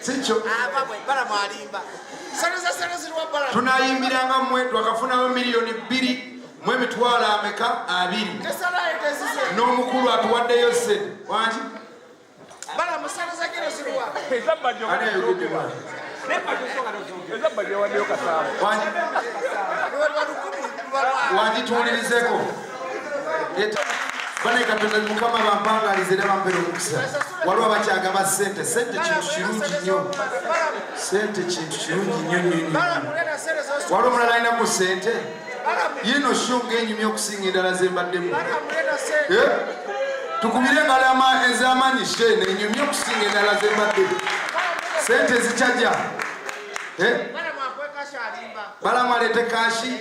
sikyo tunayimbiranga mwe twakafunawo miliyoni bbiri mu emitwalo ameka abiri n'omukulu atuwaddeyo se wangi wangi tuwulirizeko banaye katonda mukama bampangalize era bampera omukisa waliwo abakyagaba sente sente kintu kirungi nnyo sente kintu kirungi nnyo nnyo waliwo omulala alina ku sente yino sho ngaenyumya okusinga endala zembaddemu eh? tukubire engalama ezamanyi she nenyumya okusinga endala zembaddemu sente zicaja eh? balamu aleete kashi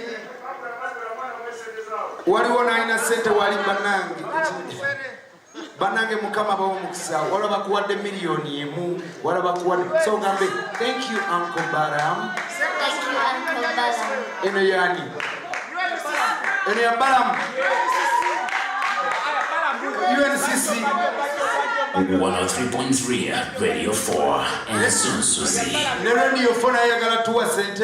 waliwo nalina sente wali banange banange mukama bawo mukisa wala bakuwadde miliyoni emu wala bakuwadde so gambe thank you uncle baram eno yani eno ya baram uncc 103.3 radio 4 ensunsuzi ne radio 4 nayagala tuwa sente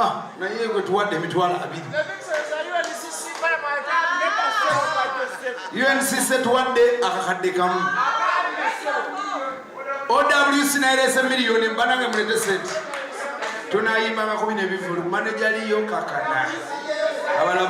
ah, naye gwe tuwadde emitwalo abiri uncc tuwadde akakadde kamu owc naerese miliyoni mbanange mulete sente tunayimbangako bino ebivulu manejaliyo kakana